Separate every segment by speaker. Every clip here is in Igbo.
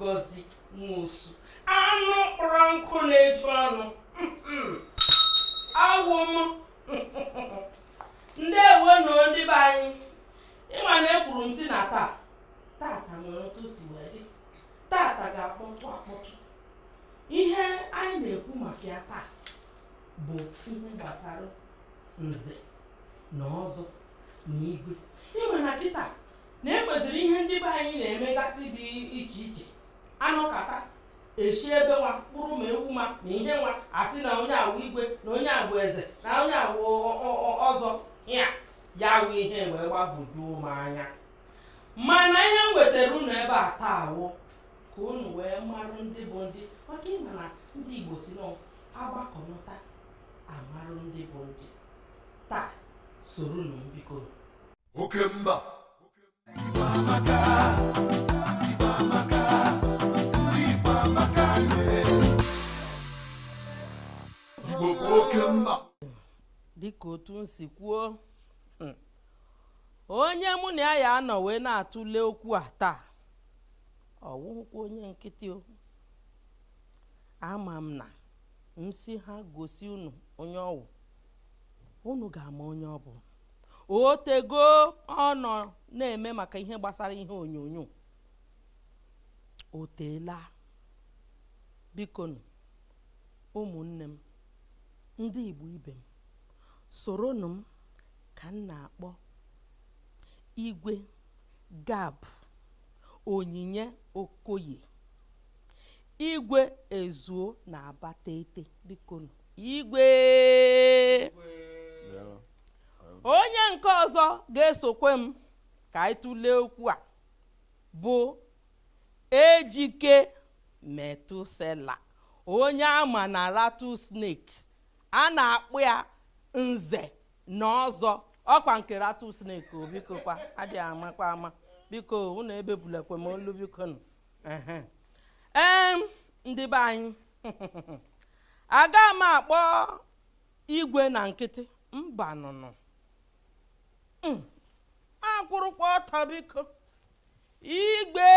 Speaker 1: ngozi nwosu anụ kpọrọ nkụ na-eju ọnụ awụ m ndeewo nụ ndị be anyị ị ma na ekwuru m sị na taa tata nwere otu o si wee dị tata ga-akpọtụ akpọtụ ihe anyị na-ekwu maka ya taa bụ ihe gbasara nze na ọzọ na igwe ị ma na kịta na e nweziri ihe ndị be anyị na-emegasị dị iche iche anọkata eshi ebe nwa kpụrụ ma ewu ma na ihe nwa asị na onye a wụ igwe na onye a wụ eze na onye a wụ ọ- ọ- ọ- ọzọ ya ya wụ ihe wee gbagwojuo m anya mana ihe m wetara unu ebe a taa wụ ka unu wee marụ ndị bụ ndị maka ị ma na ndị igbo sị na agbakọnata amarụ ndị bụ ndị taa soronụ m biko
Speaker 2: oke mba igbo bụ oke mba dịka
Speaker 1: otu m si kwuo mm, onye mụ na ya ya-anọ wee na-atụle okwu a taa ọ wụghịkwa onye nkịtị o ama m na m sị ha gosi unu onye ọ wụ unu ga-ama onye ọ bụ o tego ọ nọ na-eme maka ihe gbasara ihe onyonyo o teela bikonu ụmụnne m ndị igbo ibe m soronụ m ka m na-akpọ igwe gab onyinye okoye igwe ezuo na abatete bikonu igwe onye nke ọzọ ga-esokwe m ka anyị tụlee okwu a bụ ejike metusela onye a ma na rattlesnake a na-akpọ ya nze na ọzọ ọkwa nke rattlesnake o biko kwa adịghị amakwa ama biko unu ebebulekwe m olu biko nụ ehe. em ndị be anyị aga m akpọ igwe na nkịtị mbanụ nụ hmm. akwụrụkwa ọtọ biko igwe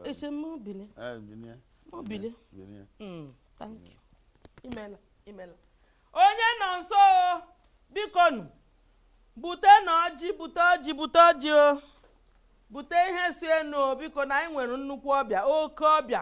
Speaker 1: ese mobile mobile thank you imela imela onye nọ nso biko nụ butenụ ọjị bute ọjị bute ọjị o bute ihe si enu biko na anyị nwere nnukwu ọbịa oke ọbịa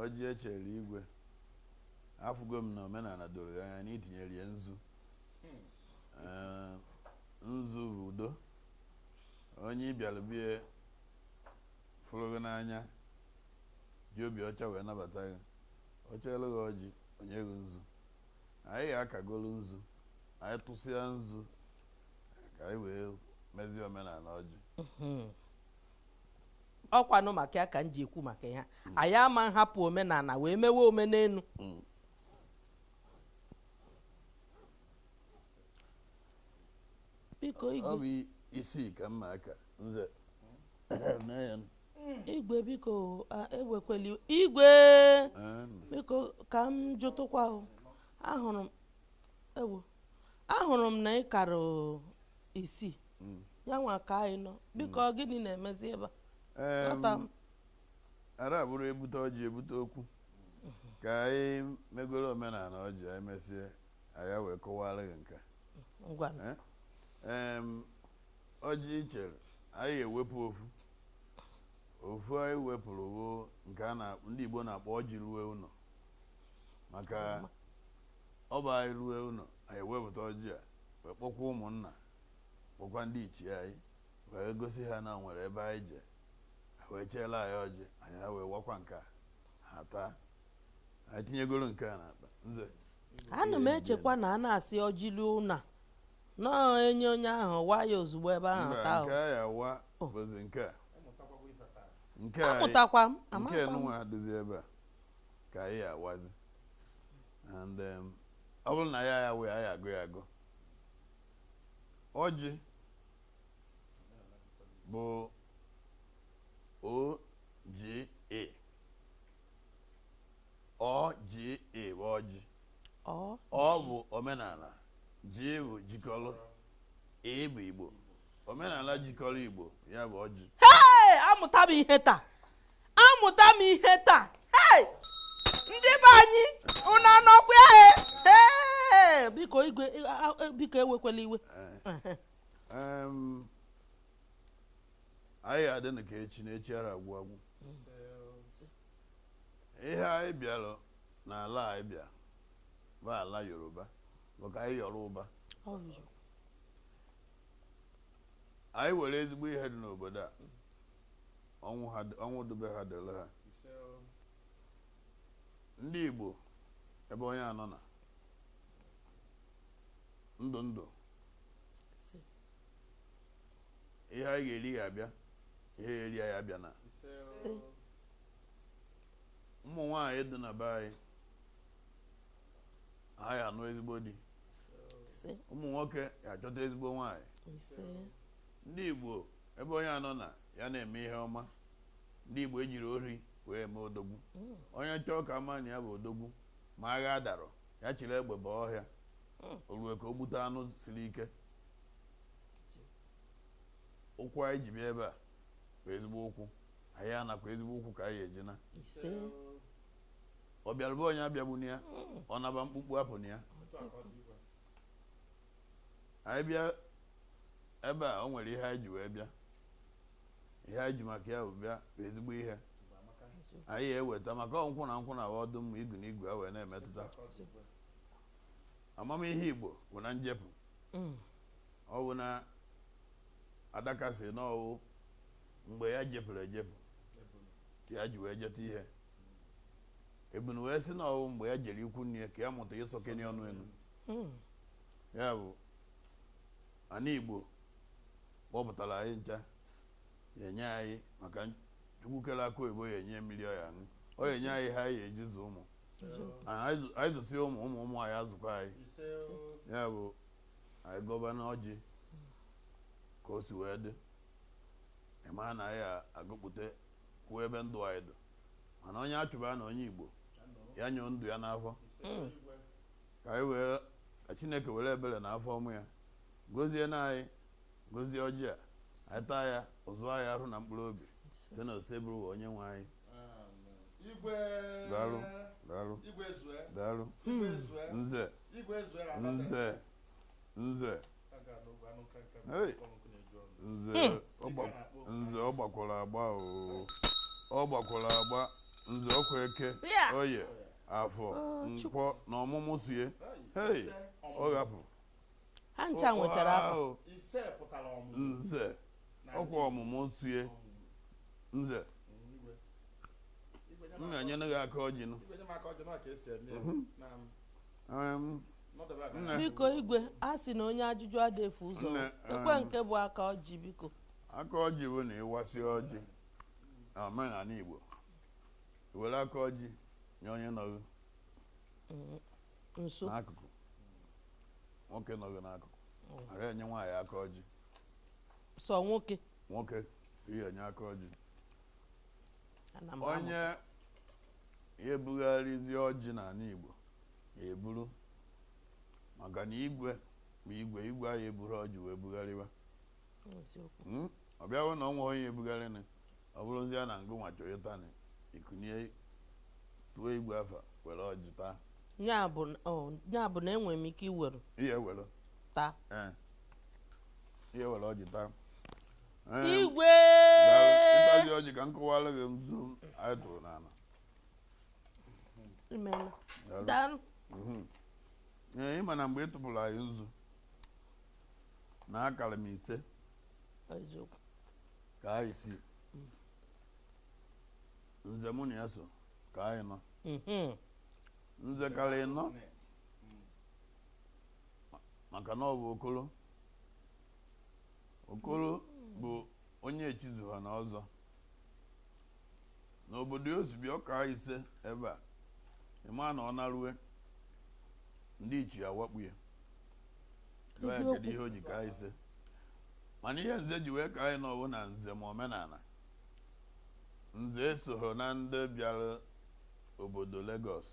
Speaker 3: Ọjị e chere igwe afụgo m na omenala doro gị anya na i tinyere ya nzu Ee, nzu bụ udo onye ị bịara be ya fụrụ gị n'anya ji obi ọcha wee nabata gị o chelu gị ọjị o nye gị nzu anyị ga-akagolu nzu anyị tụsịa nzu ka anyị wee mezie omenala ọjị
Speaker 1: ọkwanụ maka ya ka m ji ekwu maka ya anyị ama nhapụ omenala wee mewe omenelu biko ọ igwe bụ
Speaker 3: isii ka m na-aka nze mee
Speaker 1: ya igwe biko a, ewekwela iwe Ee, biko ka m jụtụkwa o. ahụrụ m ewo ahụrụ m na ị kara isii mm. ya nwa ka anyị nọ biko mm. gịnị na-emezi ebe
Speaker 3: a ara abụrụ ebute ọjị ebute okwu ka anyị megoro omenala ọjị anyị mesie anyị wee kọwara gị nke ọjị i chere anyị ga-ewepụ ofu ofu anyị wepụrụ bụ nke ndị Igbo na-akpọ ọjị ruo ụlọ maka Ọ bụ anyị rue ụlọ, anyị ewepụta ọjị a wee kpọkwa ụmụnna kpọkwa ndị ichie anyị wee gosi ha na o nwere ebe anyị je ha wee cheela anyị ọjị anyị ha wee wakwa nke a ha taa anyị tinyegoro nke a n'akpa nze ana
Speaker 1: m echekwa na a na-asị ọjị ruo ụlọ na-enye onye ahụ wa ya ozugbo ebe ahụ mba taa nke a ya wa
Speaker 3: Oh. bụzi nke a nke a amụtakwa
Speaker 1: m nke amụtakwa m nwa dịzi
Speaker 3: ebe a ka anyị awazi and um, ọ bụrụ na ya ya wee anyị agụ ya agụ ọjị bụ O J I O J I bụ ọjị O bụ omenala J bụ jikọrọ I bụ Igbo omenala jikọrọ Igbo ya bụ ọjị hei amụta
Speaker 1: m ihe taa amụta m ihe taa hei ndị be anyị unu anọkwa ya e. Ee, biko igwe a- a- biko ewekwala iwe
Speaker 3: Em, anyị ga-adịnụ ka echi na echi ara agwụ agwụ ihe anyị bịara n'ala anyị bịa bụ ala Yoruba maka ndị Yoruba anyị were ezigbo ihe dị n'obodo a ọ wụ dube ha dịrị ha ndị Igbo ebe onye anọna ndụ ndụ ihe ya ga-eri ya abịa ihe eri ya abịana ụmụ nwaanyị dị na be anyị ha ya anụ ezigbo di ụmụ nwoke ya achọta ezigbo nwaanyị ndị Igbo ebe onye anọna ya na-eme ihe ọma ndị Igbo ejirọ ori wee eme odogwu mm. onye chọọ ka a ma na ya bụ odogwu ma agha darọ ya chiri egbe baa ọhịa mm. o rue ka o gbute anụ siri ike ụkwụ anyị ji bịa ebe a bụ ezigbo ụkwụ anyị anakwa ezigbo ụkwụ ka anyị eji ana ọ bịara be onye abịagbuna ya ọ naba mkpumkpu apụna ya anyị bịa ebe a o nwere ihe anyị ji wee bịa ihe anyị ji maka ya bịa bụ ezigbo ihe anyị eweta maka nkwụ na nkwụ na ọdụ mma igu na igu e wee na-emetụta amamihe igbo bụ na njepụ mm. ọ bụ na adaka sị na ọ wụ mgbe ya jepụrụ ejepụ ka ya ji wee jeta ihe ebunu wee sị na ọ wụ mgbe ya jere ikwu nne ya ka ya mụta ịsọkeni ọnụ elu hmm. ya bụ ana igbo kpọpụtara anyị ncha ya enye anyị maka chukwu kere akụ oyibo ya enye mmiri ọ ya aṅụ ọ ya enye anyị ihe anyị eji zụ ụmụ anyị zụsi ụmụ ụmụ anyị azụkwa anyị ya bụ anyị gọbanụ ọjị ka o si wee dị ị mara na anyị agụpụta kwuo ebe ndụ anyị dụ mana onye achụbana onye igbo ya nyụọ ndụ ya n'afọ hmm. ka anyị wee ka chineke were ebere na afọ ọma ya gozienụ anyị gozie ọjị a anyị taa ya o zuo anyị ahụ na mkpụrụ obi si na Osebụrụwa onye nwe anyị daalụ daalụ daalụ nze nze nze nze ọ gbakwara agba ọ gbakwara agba nze ọ kwa eke oye afọ oh, nkwọ na ọmụmụ so ya ọ ghapụ ha
Speaker 1: ncha nwechara
Speaker 3: afọ nze ọ kwa ọmụmụ so ya nze m ga-enyere gị aka ọjị nụ Um, Not about that.
Speaker 1: nne biko igwe a sị na onye ajụjụ ada efu ụzọ Nne, ekwe um, nke bụ aka ọjị biko aka ọjị bụ
Speaker 3: na ịwasị ọjị na omenanị Igbo i were aka ọjị nye onye
Speaker 1: nọghị nso
Speaker 3: n'akụkụ nwoke nọghị n'akụkụ ara enye nwaanyị aka ọjị
Speaker 1: sọ nwoke nwoke
Speaker 3: ihe enye aka ọjị onye ya-ebugharịzi ọjị n'anị Igbo eburu maka na igwe bụ igwe igwe ahụ eburu ọjị wee bugharịba hmm? ọ bịawo na o nwee onye ebugharịnị ọ bụrụzia na ngụ nwa chọ ịtanị i kunie tuo igwe afa were ọjị
Speaker 1: taa ya bụ na enwere m ike iwere taa
Speaker 3: ihe were ọjị taa
Speaker 1: igwe
Speaker 3: ịkpazi ọjị ka m kọwara gị nzu anyị tụrụ
Speaker 1: n'ala
Speaker 3: mhm. ee ị ma na mgbe ị tụpụrụ anyị nzu na akara m ise kaa isii nze mụ na ya so kaa ịnọ mhm. nze kara ịnọ maka na ọ bụ okolo okoro bụ onye echizuhana ọzọ n'obodo ya osibi ọ kaa ise ebe a ị ma na ọ narue ndị ichie awakpu ya Gwa ya kedu ihe o ji kaa ise mana ihe nze ji wee kaa ịnọ bụ na nze ma omenana nze esoghị na ndị bịara obodo Lagos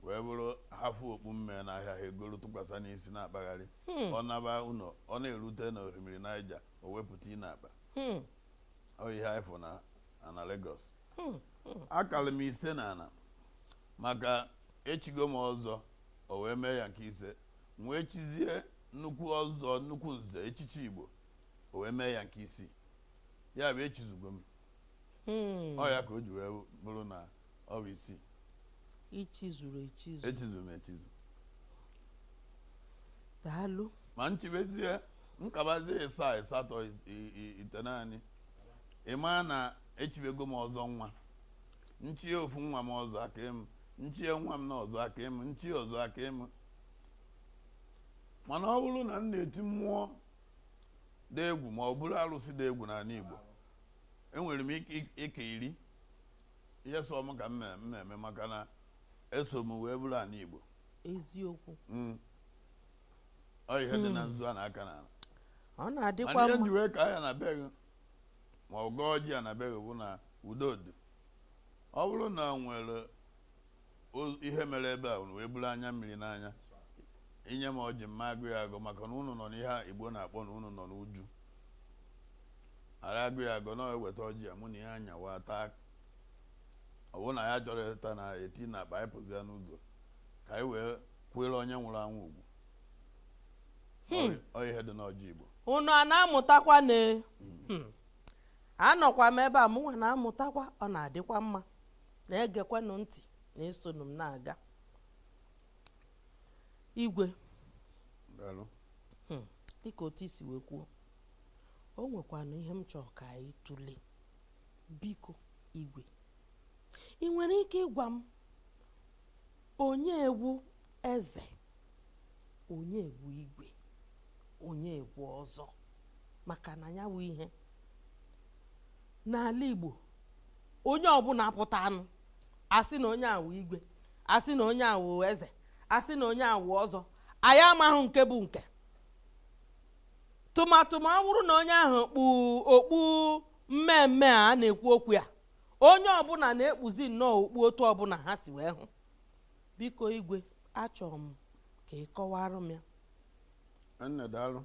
Speaker 3: wee bụrụ ha fụ okpu mmee n'ahịa ha egoro tụkwasa n'isi na-akpagharị hmm. ọ naba ụlọ ọ na-erute na osimiri Niger o wepụ tinye n'akpa hmm. ọ ihe anyị fụ na ana Lagos hmm, akara m ise na ana maka echigo m ọzọ o wee mee ya nke ise m wee chizie nnukwu ọzọ nnukwu nze echichi Igbo o wee mee ya nke isii ya bụ echizugo m hmm. ọ ya ka o ji wee bụrụ na ọ bụ isii ichizuru echizu echizu m
Speaker 1: echizu daalụ ma m
Speaker 3: chibezie m kabazie ịsaa ịsatọ itenaanị ị ma na echibego m ọzọ nwa m chie ofu nwa m ọzọ akaa m m chie nwa m na ọzọ akaa m m chie ọzọ akaa m mana ọ bụrụ na m na-eti mmụọ dị egwu ma ọ buru arụsị dị egwu n'anị Igbo enwere m ike iri ihe sọ m ka m na-eme maka na eso m wee buru anị Igbo eziokwu
Speaker 1: hmm.
Speaker 3: ọ ihe dị na hmm. nzu a na-aka na ọ
Speaker 1: na-adịkwa mma ihe e ji wee kaa ya
Speaker 3: na be gị ma ọ gọọ ọjị a na be gị bụ na udo dị ọ bụrụ na nwere ihe mere ebe a unu wee buru anya mmiri n'anya inye m ọjị m ma agọ ya agọ maka na unu nọ n'ihe igbo na-akpọ na unu nọ n'uju ara agọ ya agọ na-eweta ọjị ya mụ na ihe anyawa taa ọwụ na ya chọrọ ịta na-etinye akpa anyị pụzi ya n'ụzọ ka anyị wee kwere onye nwụrụ anwụ ugwu hmm. ọ ihe dị n'ọjị igbo unu a na-amụtakwa
Speaker 1: na hmm. anọkwa m ebe a mụnwa na-amụtakwa ọ na-adịkwa mma na-egekwanụ ntị na-esonụ m na-aga igwe Daalụ. Hmm, dịka otu i si wee kwuo o nwekwanụ ihe m chọrọ ka anyị tụlee biko igwe ị nwere ike ịgwa m Onye wụ eze, onye wụ igwe, onye wụ ọzọ maka na ya wụ ihe n'ala Igbo onye ọbụla pụta anụ asị na onye a wụ igwe asị na onye a wụ eze asị na onye a wụ ọzọ anyị amaghị nke bụ nke tụmatụma ọ bụrụ na onye ahụ kpu okpu mme mme a na-ekwu okwu ya onye ọbụla na-ekpuzi nnọọ okpu otu ọbụla ha si wee hụ biko igwe achọrọ m ka ị kọwara m ya nne
Speaker 3: daalụ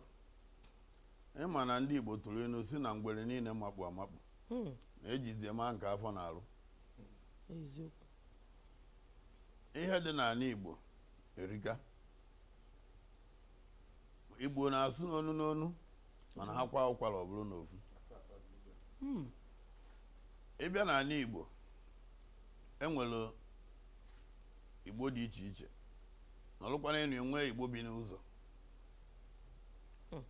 Speaker 3: ịma na ndị igbo tụrụ ilu sị na ngwere niile makpu amakpu hmm. na ejizi ama nke afọ na-arụ ihe dị n'ala igbo erika igbo na-asụ n'onu n'onu mana ha kwa ụkwara ọ bụrụ n'ofu hmm. ịbịa n'ala igbo enwere igbo dị iche iche nọrụkwana enu enwee igbo bi n'ụzọ hmm.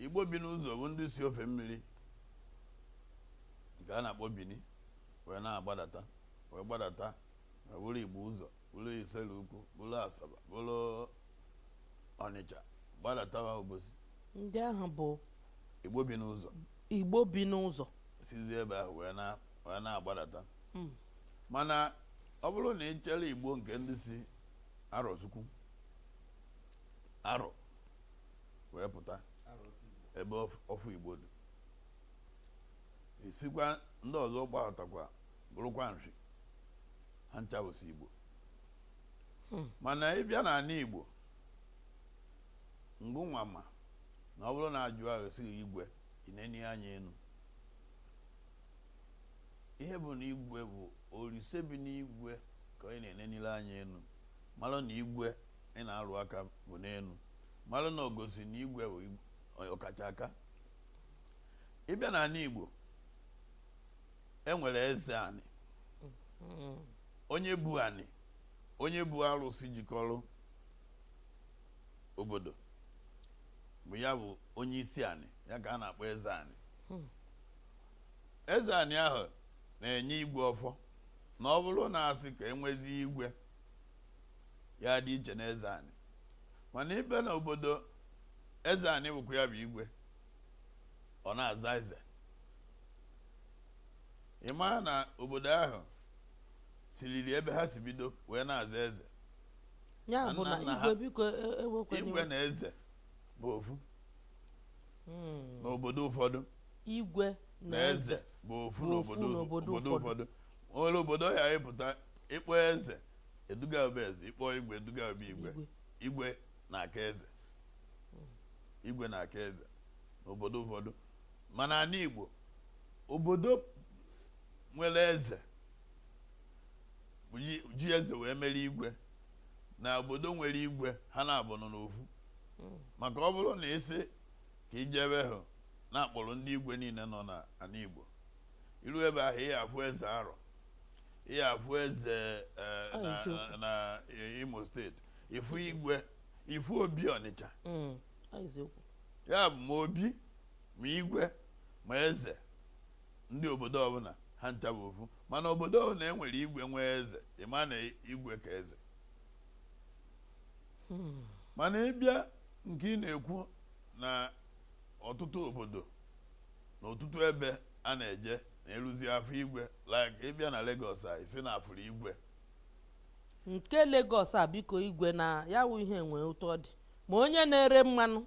Speaker 3: igbo bi n'ụzọ bụ ndị si ofe mmiri nke a na-akpọ bini wee na-agbadata wee gbadata wee bụrụ igbo ụzọ bụrụ isele ukwu bụrụ asaba bụrụ ọnịcha gbadatawa obosi ndị ahụ
Speaker 1: bụ igbo bi
Speaker 3: n'ụzọ igbo bi n'ụzọ
Speaker 1: sizi ebe ahụ
Speaker 3: wee na- wee na-agbadata Mm. mana ọ bụrụ na ị chere igbo nke ndị si arọchukwu arọ wee pụta ebe ọf- ọfụ igbo dị isikwa ndị ọzọ gbadatakwa bụrụkwa nshi ha ncha bụsị Igbo hmm. mana ịbịa n'ala Igbo ngịnwa ma na ọ bụrụ na ajụọ asị igwe i nenie anya enu ihe bụ na igwe bụ olise bi n'igwe ka ị na-enenile anya enu mara na igwe ị na-arụ aka bụ n'enu mara na o gosi na igwe bụ ọkacha aka ịbịa n'ala Igbo enwere eze anị mm-hmm. onye bu anị onye bu arụsị jikọrọ obodo bụ ya bụ onye isi anị ya ka a na-akpọ eze anị hmm. eze anị ahụ na-enye igwe ọfọ na ọ bụrụ na asị ka enwezi igwe ya dị iche na eze anị mana ịbịa na obodo eze anị bụkwa ya bụ igwe ọ na-aza eze ị maa na obodo ahụ siriri ebe ha si bido wee na-aza eze ya
Speaker 1: bụ na Nna ha- igwe biko e- e- ewekwana iwe igwe na eze
Speaker 3: bụ ofu Mm. n'obodo ụfọdụ
Speaker 1: igwe na eze bụ ofu bụ ofu
Speaker 3: n'obodo n'obodo obodo ụfọdụ o nwere obodo ị ya-apụta ịkpọ eze eduga be eze ịkpọ igwe eduga be igwe igwe igwe na-aka eze igwe na-aka eze n'obodo ụfọdụ mana n'anị Igbo obodo nwere eze ji eze wee mere igwe na obodo nwere igwe ha na-abụ nọ n'ofu hmm. maka ọ bụrụ na ịsị ka ije ebe ahụ na akpọrọ ndị igwe niile nọ n'anị Igbo iru ebe ahụ ị ya-afụ eze Arọ ị ya-afụ eze eh, na Imo state ịfụ igwe ịfụ Obi Ọnịcha hmm. ya bụ ma obi ma igwe ma eze ndị obodo ọbụla ha ncha bụ ofu mana obodo ọbụla enwere igwe nwee eze ị maa na igwe ka eze hmm. mana ịbịa nke ị na-ekwu na ọtụtụ obodo na ọtụtụ ebe a na-eje na eruzie afụ igwe like ịbịa na Lagos a ịsị na afụrụ igwe
Speaker 1: nke Lagos a biko igwe na ya wụ ihe enweghị otu ọ dị ma onye na-ere mmanụ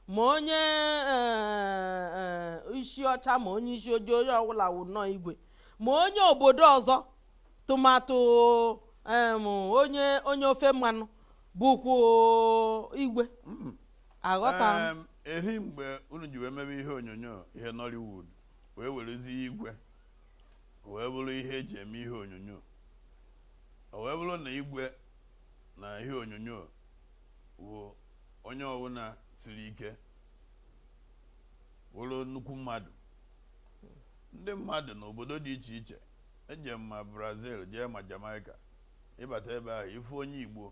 Speaker 1: ma onye eh, eh, isi ọcha ma onye isi ojii onye ọbụla wụ nnọọ igwe ma onye obodo ọzọ tụmadụ em, onye onye ofe mmanụ bụkwa igwe aghọta m Em,
Speaker 3: eri mgbe unu ji wee mebe ihe onyonyo ihe Nollywood wee werezie igwe wee bụrụ ihe eji eme ihe onyonyo o wee bụrụ na igwe na ihe onyonyo bụ onye ọbụla siri ike wụrụ nnukwu mmadụ ndị mmadụ n'obodo dị iche iche eje ma Brazil jee ma Jamaica ịbata ebe ahụ ịfụ onye Igbo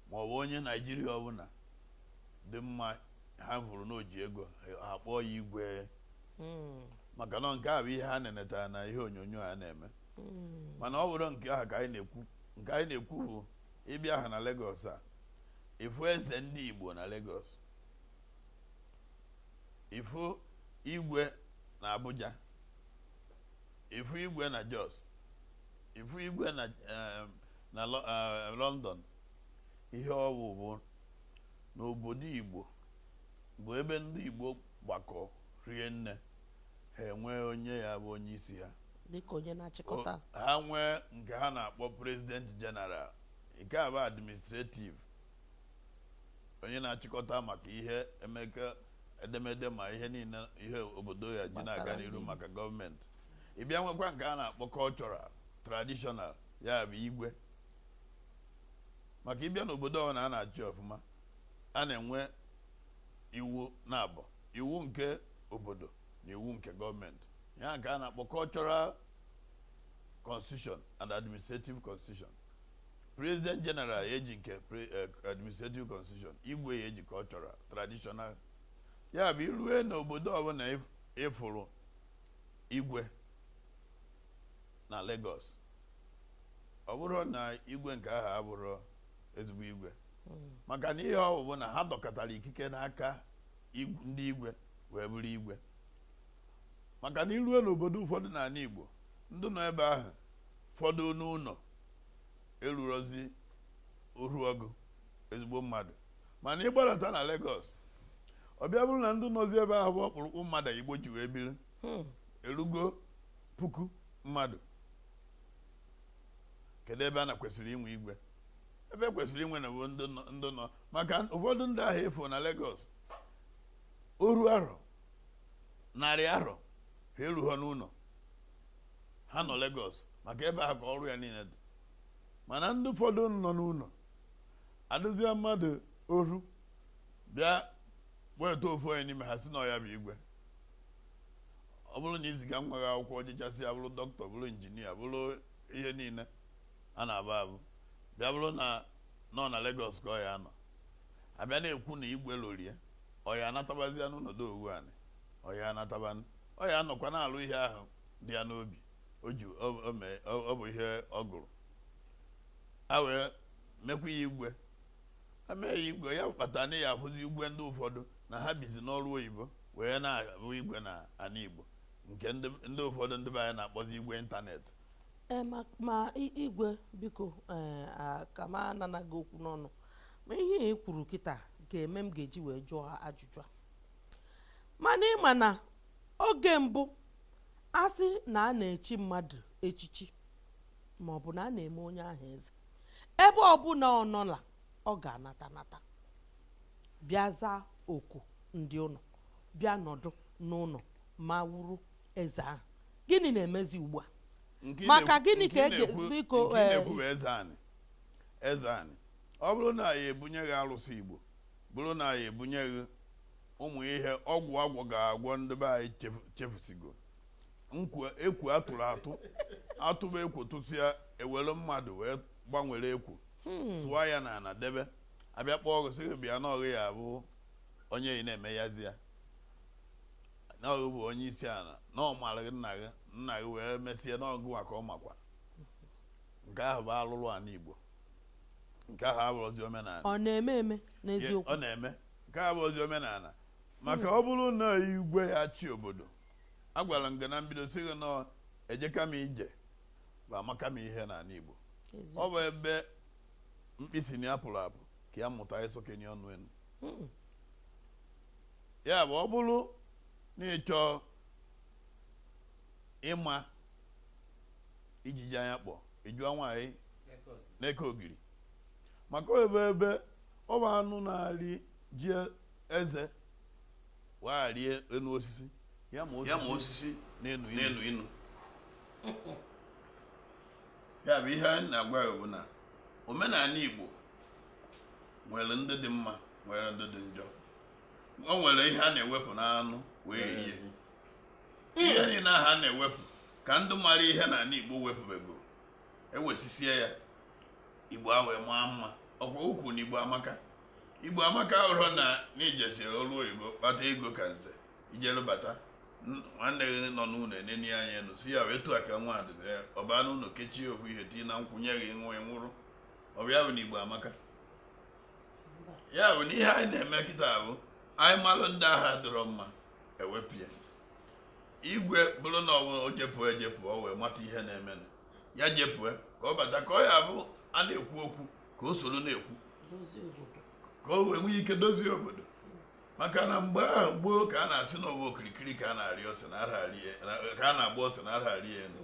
Speaker 3: ma ọ bụ onye Naijiria ọbụla dị mma ha vụrụ n'o ji ego ha kpọọ ya igwe hmm. maka na nke a bụ ihe ha nenetara na ihe onyonyo a na-eme hmm. mana ọ bụrọ nke ahụ ka anyị na-ekwu nke anyị na-ekwu bụ ị bịa ha na Lagos a ị fụ eze ndị Igbo na Lagos ị fụ igwe na Abuja ị fụ igwe na Jos ị fụ igwe na eh, na eh, London ihe ọ bụ bụ n'obodo Igbo bụ ebe ndị Igbo gbakọ rie nne ha enwee onye ya bụ onye isi ha dịka
Speaker 1: onye na-achịkọta ha
Speaker 3: nwee nke ha na-akpọ president general nke a bụ administrative onye na-achịkọta maka ihe emeka edemede ma ihe niile ihe obodo ya ji na-aga n'iru maka gọọmenti ị bịa nwekwa nke a na-akpọ cultural traditional ya bụ igwe maka ị bịa n'obodo ọbụla a na-achị ọfụma a na-enwe iwu naabọ iwu nke obodo na iwu nke gọọmenti ya ka a na-akpọ cultural constitution and administrative constitution president general eji nke pre- eh, administrative constitution igwe ya eji cultural traditional ya bụ i rue n'obodo ọbụla ịf- ị fụrụ igwe na Lagos ọ bụrọ na igwe nke ahụ abụrọ ezigbo igwe maka na ihe ọ bụ bụ na ha dọkọtara ikike n'aka ndị igwe wee bụrụ igwe maka na i rue n'obodo ụfọdụ n'ala Igbo ndị nọ ebe ahụ fọdụ n'ụlọ erurozi oru ọgụ ezigbo mmadụ mana ị gbadata na Lagos ọ bịa bụrụ na ndị nọzi ebe ahụ bụ ọkpụrụkpụ mmadụ Igbo ji wee biri hmm. erugo puku mmadụ kedu ebe a na kwesịrị inwe igwe ebe e kwesịrị inwe na bụ ndị nọ- ndị nọ maka ụfọdụ ndị ahụ efu na Lagos oru arọ narị arọ ha eruho n'ụlọ ha nọ Lagos maka ebe ahụ ka ọrụ ya niile dị mana ndị ụfọdụ nọ n'ụlọ adụzie mmadụ oru bịa weta ofu onye n'ime ha si na ọ ya bụ igwe ọ bụrụ na i ziga nwa gị akwụkwọ o jechasịa bụrụ dọkịta bụrụ injinia bụrụ ihe niile a na-abụ abụ bịa bụrụ na ọ na Lagos ka ọ ya anọ a bịa na-ekwu na igwe lorie ọ ya anatabazia n'ụlọdo owu anị ọ ya anatabanụ ọ ya anọkwa na-alụ ihe ahụ dị ya n'obi o ji ọ bụ ihe ọ gụrụ a wee mekwa ya igwe e me ya igwe ya kpata na ị ya ahụzi igwe ndị ụfọdụ na ha bizi n'oru oyibo wee na-abụ igwe na ana Igbo nke ndị ụfọdụ ndị be anyị na-akpọzi igwe ịntanetị Ee, ma,
Speaker 4: ma i- igwe biko ee, a- ka m anana gị okwu n'ọnụ ma ihe ị kwuru kịta ga-eme m ga-eji wee jụọ ajụjụ a mana ị ma na oge mbụ a sị na a na-echi mmadụ echichi ma ọ bụ na a na-eme onye ahụ eze ebe ọbụla ọ nọla ọ ga-anata nata bịa zaa oku ndị ụlọ bịa nọdụ n'ụlọ ma wụrụ eze ahụ gịnị na-emezi ugbu a Nke ị Maka na-ekwu- gịnị nke ka ị e ga- na-ekwu- biko, nke ị eh, na-ekwu bụ eze
Speaker 3: anị eze anị ọ bụrụ na a ya-ebunye gị arụsị Igbo bụrụ na a ya-ebunye gị ụmụ ihe ọgwụ a gwọga agwọ ndị be anyị chefu- chefusigo nkwu ekwu a tụrụ atụ a tụba ekwu tụsịa e were mmadụ wee gbanwere ekwu sụọ ya na ana debe a bịa kpọọ gị sị gị bịa na ọ gị ya-abụ onye ị na-eme yazi ya na ọ gị bụ onye isi ala na ọ mara gị nna gị nna gị wee mesie na ọ gịwa ka ọ makwa nke ahụ bụ alụlụ ala Igbo nke ahụ abụrọzi omenala ọ na-eme eme
Speaker 4: n'eziokwu ọ
Speaker 3: na-eme
Speaker 4: nke
Speaker 3: ahụ abụrọzi omenala maka ọ bụrụ na igwe ya-achị obodo agwara m gị na mbido sị gị na ejeka m ije bụ amaka m ihe n'ala Igbo ọ bụ ebe mkpi sị na ya pụrụ apụ ka ya mụta ịsọkenye ọnụ enu hmm. ya bụ ọ bụrụ na ị chọọ ịma ijiji anya kpọ ị jụọ nwaanyị na-eke ogiri maka ebe ebe ọ bụ anụ na-arị ji eze wee arị enu osisi ya ma osisi na-enu inu ya bụ ihe anyị na-agwa ya bụ na omenala Igbo nwere ndị dị mma nwere ndị dị njọ o nwere ihe a na-ewepụ n'anụ wee rie ihe niile ahụ a na-ewepụ ka ndị mara ihe n'ala Igbo wepụbego ewesisie ya Igbo ewee maa mma ọkwa o kwu na Igbo amaka Igbo amaka abụrọ na na i jesiri ọrụ oyibo kpata ego ka nze ijere bata nwanne gị nọ n'ụlọ eneni anya enu sị ya wee tụọ aka nwa adịbe ọba n'ụlọ kechie ofu ihe tii na nkwụnye gị nwa nwụrụ ọ bụ ya bụ na Igbo amaka ya bụ na ihe anyị na-eme kịta bụ anyị malụ ndị ahụ adịrọ mma e wepụ ya igwe bụrụ na ọ bụ o jepụ ejepụ o wee mata ihe na-eme ya jepụ ka ọ bata ka ọ ya-abụ a na-ekwu okwu ka o soro na-ekwu ka o wee nwee ike dozie obodo maka na mgbe ahụ gboo ka a na-asị na ọ bụ okirikiri ka a na-arị ose na ka a na-agba ose anaghị arị ya elu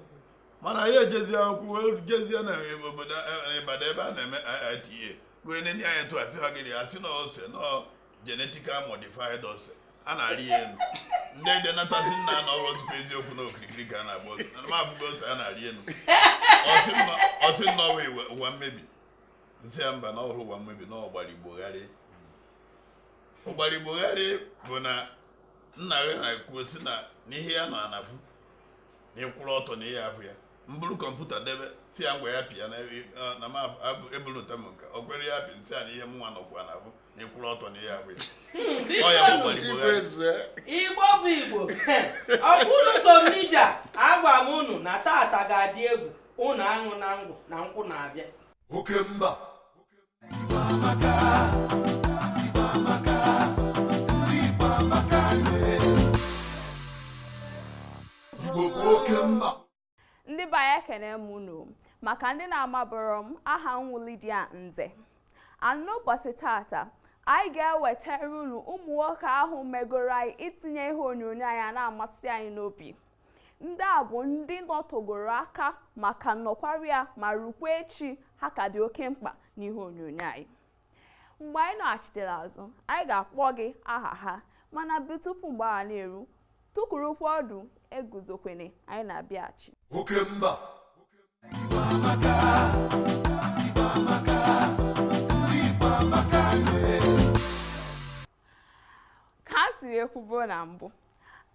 Speaker 3: mana anyị ejezie akwụkwọ jezie na obodo Ibadan ebe a na-eme IITA ruo nene anyị tụ asị ha gịrị asị na ose na genetical modified ose a na-arị ya elu ndị ede nata sị nna na ọrụ tupu eziokwu na okirikiri ka a na-agba ose na m afụgo ose a na-arị elu ọ sị na ọ ụwa mmebi m sị ya mba na ọ bụrọ ụwa mmebi na ọ gbara igbo gharịị ọ gbara igbo gharịị bụ na nna gị na-ekwu sị na ihe ya nọ ana fụ na ị kwụrụ ọtọ na ihe afụ ya m buru kọmputa debe sị ya ngwa ya pịa na ebulụta m nke o kwere ya pị m sị ya na ihe mụnwa nọkwa ana afụ na ị kwụrụ ọtọ na ihe afụ ya ọ ya gbakwara igbo gharịị igbo bụ
Speaker 1: igbo ọ bụ unu so n'ija agwa m unu na tata ga-adị egwu unu aṅụna ngwọ na nkwụ na-abịa oke mba
Speaker 2: ndị be anyị
Speaker 5: ekene m unu maka ndị na-amabụrọ m aha m wụ Lydia Nze n'ụbọchị tata anyị ga-ewetara unu ụmụ nwoke ahụ megoro anyị itinye ihe onyonyo anyị na-amasị anyị n'obi Ndị a bụ ndị nọtogoro aka ma ka nọkwarị ya ma rukwa echi ha ka dị oke mkpa n'ihe onyonyo anyị. Mgbe anyị nọghachitere azụ, anyị ga-akpọ gị aha ha mana bụ tupu mgbe ahụ na-eru, tukwurukwa ọdụ eguzokwene anyị na-abịaghachi. Oke mba. ka a siri ekwubu na mbụ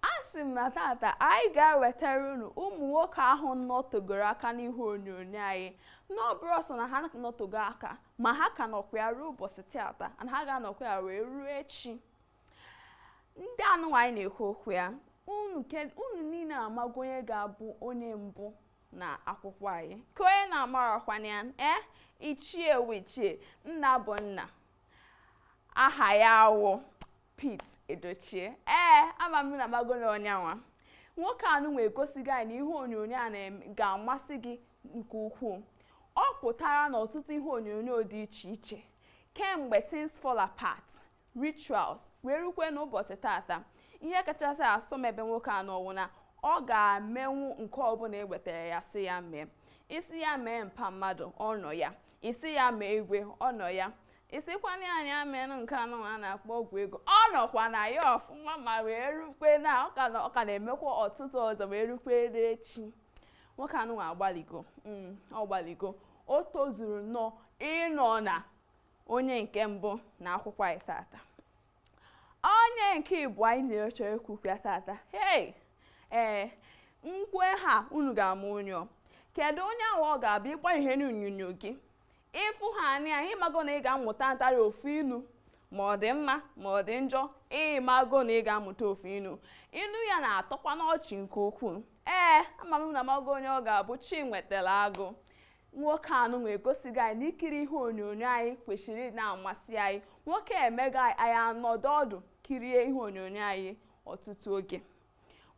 Speaker 5: asị m na tata anyị ga-ewetara unu ụmụ nwoke ahụ nọtogoro aka n'ihe onyonyo anyị na ọ bụrọ sọ na ha nọtogo aka ma ha ka nọkwa ya ruo ụbọchị tata na ha ga-anọkwa ya wee ruo echi ndị a nụnwa anyị na-ekwu okwu ya unu ke- unu niile amago onye ga-abụ onye mbụ na akwụkwọ anyị ka onye na-amarakwana ya ee ichie wụ ichie nna bụ nna aha ya wụ Pete Edochie ee ama m na magolo onye anwa nwoke a nụnwa egosigo anyị na ihe onyonyo a na-em- ga-amasị gị nke ukwuu ọ pụtara n'ọtụtụ ihe onyonyo dị iche iche kemgbe things fall apart rituals wee rukwe n'ụbọchị tata ihe kachasị asọ m ebe nwoke a nọ wụ na ọ ga-emenwu nke ọbụla e wetara ya sị ya mee ị sị ya mee mpa mmadụ ọ nọ ya ị sị ya mee igwe ọ nọ ya ị sịkwana ya ya menụ nke anụ a na-akpọ ọgwụ ego ọ nọkwa na ya ọfụma ma wee rukwe na ọ ka na-emekwa ọtụtụ ọzọ wee rukwe echi nwoke anụ agbaligo mm, ọ gbaligo o tozuru nnọọ ịnọ na onye nke mbụ na akwụkwọ anyị tata onye nke ịbụọ anyị na-eche ekwukwa tata hei ee m kwue aha unu ga-ama onye ọ kedu onye ahụ ọ ga-abụ ịgba ihe n'onyonyo gị ịfụ ya anya ịmago na ị ga-amụta ntarị ofu inu ma ọ dị mma ma ọ dị njọ ịmago na ị ga-amụta ofu inu inu ya na-atọkwa n'ọchị nke ukwuu ee ama m na amago onye ọ ga-abụ Chiwetalu Agu nwoke anụnwa egosigo anyị na ikiri ihe onyonyo anyị kwesịrị na-amasị anyị nwoke emego anyị anyị anọdụ ọdụ kirie ihe onyonyo anyị ọtụtụ oge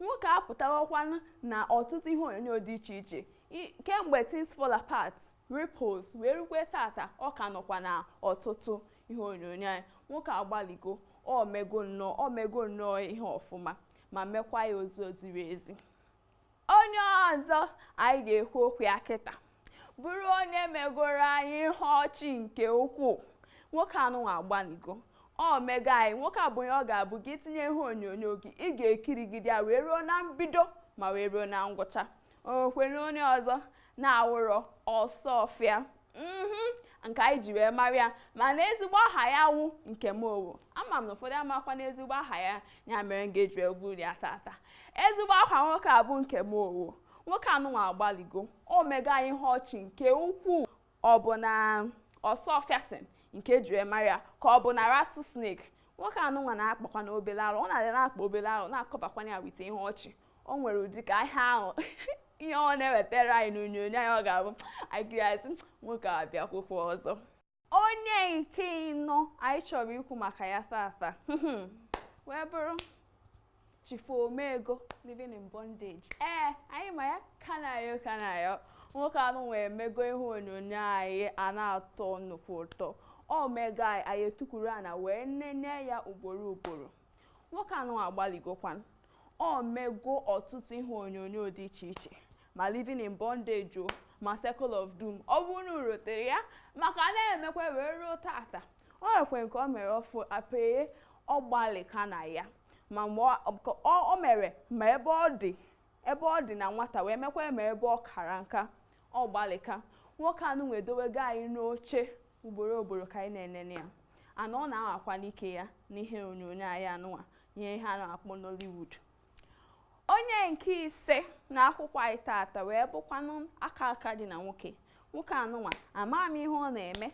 Speaker 5: nwoke apụtawakwanụ na ọtụtụ ihe onyonyo dị iche iche I- kemgbe things fall apart ripples wee rukwe tata ọ ka nọkwa na ọtụtụ ihe onyonyo anyị nwoke agbaligo o mego nnọọ o mego nnọọ ihe ọfụma ma mekwa ya ụzọ ziri ezi onye ọzọ anyị ga-ekwu okwu ya kịta bụrụ onye megoro anyị ihe ọchị nke ukwuu nwoke anụnwa agbanigo o mego anyị nwoke a bụ onye ọ ga-abụ gị tinye ihe onyonyo gị ị ga-ekirigide ya wee ruo na mbido ma wee ruo na ngwụcha o nwerọ onye ọzọ na-awụrọ Osuofia mhm nke anyị ji wee mara ya mana ezigbo aha ya wụ Nkem Owoh ama m na ụfọdụ amakwa na ezigbo aha ya ya mere m ga-eji wee kwuo ya tata ezigbo aha nwoke a bụ Nkem Owoh nwoke anụnwa agbaligo o mego anyị ihe ọchị nke ukwuu ọ bụ na Osuofison nke e ji wee mara ya ka ọ bụ na rattlesnake nwoke anụnwa na-akpakwa na obele arụ ọ na-adị na-akpa obele arụ na-akọbakwa ya wite ihe ọchị o nwere ụdị ka ihe ahụ ihe ọ na-ewetara anyị n'onyonyo anyị ọ ga-abụ anyị kirie asị nwoke a bịakwukwa ọzọ onye nke ịnọ anyị chọrọ ikwu maka ya tata wee bụrụ chief omego living in bondage ee anyị ma ya Kanayo O Kanayo nwoke anụnwa emego ihe onyonyo anyị a na-atọ nnukwu ụtọ o mego anyị anyị etukwuru ana wee nene ya ugboro ugboro nwoke anụnwa agbaligokwanụ o mego ọtụtụ ihe onyonyo dị iche iche ma living in bondage ma circle of doom ọ bụrụ na i rotere ya ma ọ ka na-emekwa wee ruo tata o nwekwere nke o mere ọfụ Apaye ọ gbalịka na ya ma mgbe o mere ma ebe ọ dị ebe ọ dị na nwata wee mekwa ma ebe ọ kara nka ọ gbalịka nwoke anụnwa edowego anyị n'oche ugboro ugboro ka anyị na-enene ya anya ọ na-anwakwanụ ike ya n'ihe onyonyo anyị anụnwa ihe ihe a na-akpọ Nollywood onye nke ise na akwụkwọ anyị taata wee bụkwanụ aka aka dị na nwoke nwoke anụnwa ama m ihe ọ na-eme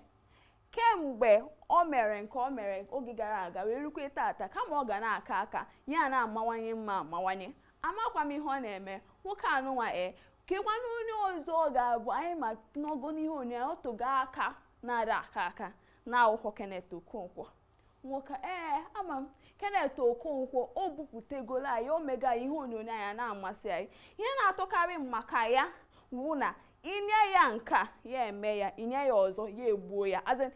Speaker 5: kemgbe o mere nke o mere oge gara aga wee rukwe taata kama ọ ga na-aka aka ya na-amawanye mma amawanye Amakwa m ihe ọ na-eme. Nwoke anụnwa e. Kekwanụ onye ọzọ ọ ga-abụ anyị ma n'ogo n'ihe onyonyo ya, ọ tụgo aka na-ada aka aka na-awụghị Kenneth Okonkwo. Nwoke ee ama m Kenneth Okonkwo o bupụtegolo anyị o mego anyị ihe onyonyo anyị a na-amasị anyị. Ihe na-atọkarị m maka ya wụ na i nye ya nke a ya eme ya i nye ya ọzọ ya egbuo ya as in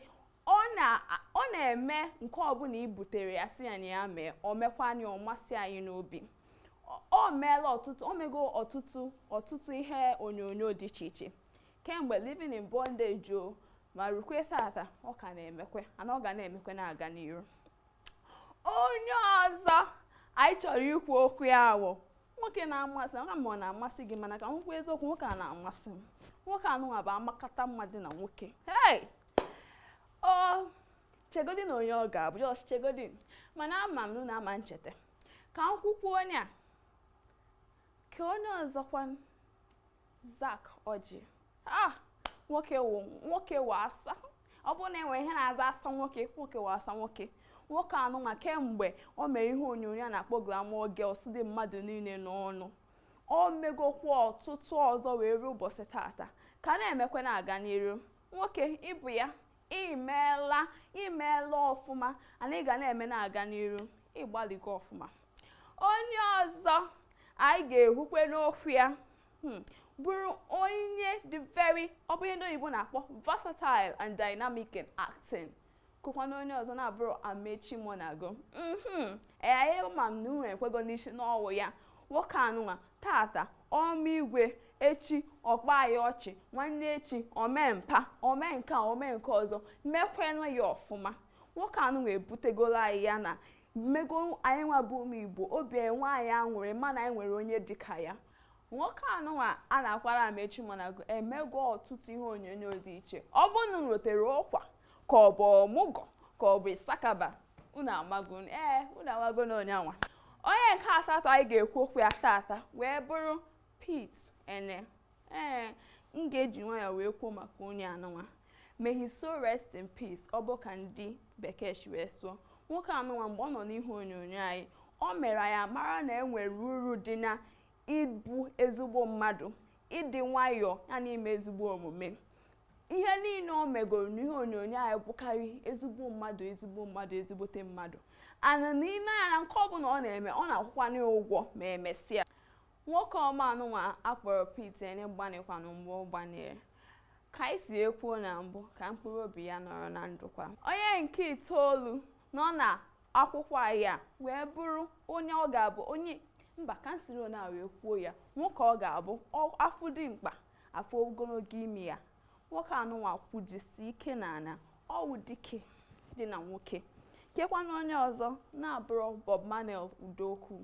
Speaker 5: Ọ na ọ na-eme nke ọbụla i butere ya sị ya na ya mee, o mekwaa ya ọ masị anyị n'obi. Ọ o meela ọtụtụ o mego ọtụtụ ọtụtụ ihe onyonyo dị iche iche. Kemgbe Living in Bondage o ma rukwe tata, ọ ka na-emekwe and ọ ga na-emekwe na-aga n'iru. Onye ọzọ anyị chọrọ ikwu okwu ya wụ nwoke na-amasị m, ma ọ na-amasị gị mana ka m kwuo eziokwu nwoke a na-amasị m. Nwoke anụnwa bụ amakata mma dị na nwoke. Hey! ọ chegodi na onye ọ ga-abụ just chegodi mana ama m na unu ama ncheta ka m kwukwuo onye a kee onye ọzọkwa Zack Orji ah nwoke wụ nwoke wụ asa ọ bụrụ na e nwere ihe na-aza asa nwoke nwoke wụ asa nwoke nwoke anụnwa kemgbe o mere ihe onyonyo a na-akpọ Glamour Girls dị mmadụ niile n'ọnụ o megokwa ọtụtụ ọzọ wee ruo ụbọchị tata ka na-emekwa na-aga n'iru nwoke ị bụ ya i meela i meela ọfụma and ị ga na-eme na-aga n'iru ị gbalịgo ọfụma onye ọzọ anyị ga-ekwukwe n'okwu ya hmm, bụrụ onye dị very ọ bụ ihe ndị oyibo na-akpọ versatile and dynamic in acting kekwanụ onye ọzọ na-abụrọ Amaechi Muonagor mhm ama m na unu ekwego n'isi na ọ wụ ya nwoke anụnwa tata o mee igwe echi ọ kpa ya ọchị nwanne echi o mee mpa o mee nke a o mee nke ọzọ mekwenụ ya ọfụma nwoke anụnwa ebutegolo anyị ya na o mego anyị nwa bụ ụmụ igbo obi enwe anyị aṅụrị mana anyị nwere onye dịka ya nwoke anụnwa a na-akpọ Amaechi Muonagor emego ọtụtụ ihe onyonyo dị iche ọ bụ unu rotere Ụkwa ka ọ bụ Ọmụgwọ ka ọ bụ Issakaba unu amago unu- ee unu amago na onyanwa onye nke asatọ anyị ga-ekwu okwu ya tata wee bụrụ Pete Eneh ee m ga-eji nwayọọ wee kwuo maka onye anụnwa may his soul rest in peace ọ bụ ka ndị bekee si wee sụọ nwoke anụnwa mgbe ọ nọ n'ihe onyonyo anyị o mere anyị mara na e nwere uru dị na ịbụ ezigbo mmadụ ịdị nwayọọ ya na ime ezigbo omume ihe niile o megoro n'ihe onyonyo anyị bụkarị ezigbo mmadụ ezigbo mmadụ ezigbote mmadụ and na i lee anya na nke ọbụla ọ na-eme ọ na-akwụkwanye ya ụgwọ ma emesịa nwoke ọma anụnwa a kpọrọ Pete Eneh gbanịkwanụ mgbe ọ gbanyere ka anyị si ekwuo na mbụ ka mkpụrụ obi ya nọrọ na ndokwa onye nke itoolu nọ na akwụkwọ anyị a wee bụrụ onye ọ ga-abụ onye mba ka m siri na wee kwuo ya nwoke ọ ga-abụ ọ- a fụ dimkpa a fụ ogologo imi ya nwoke anụnwa kwujisi ike n'ala ọ wụ dike dị na nwoke kekwa na onye ọzọ na-abụrọ Bob Manuel Udokwu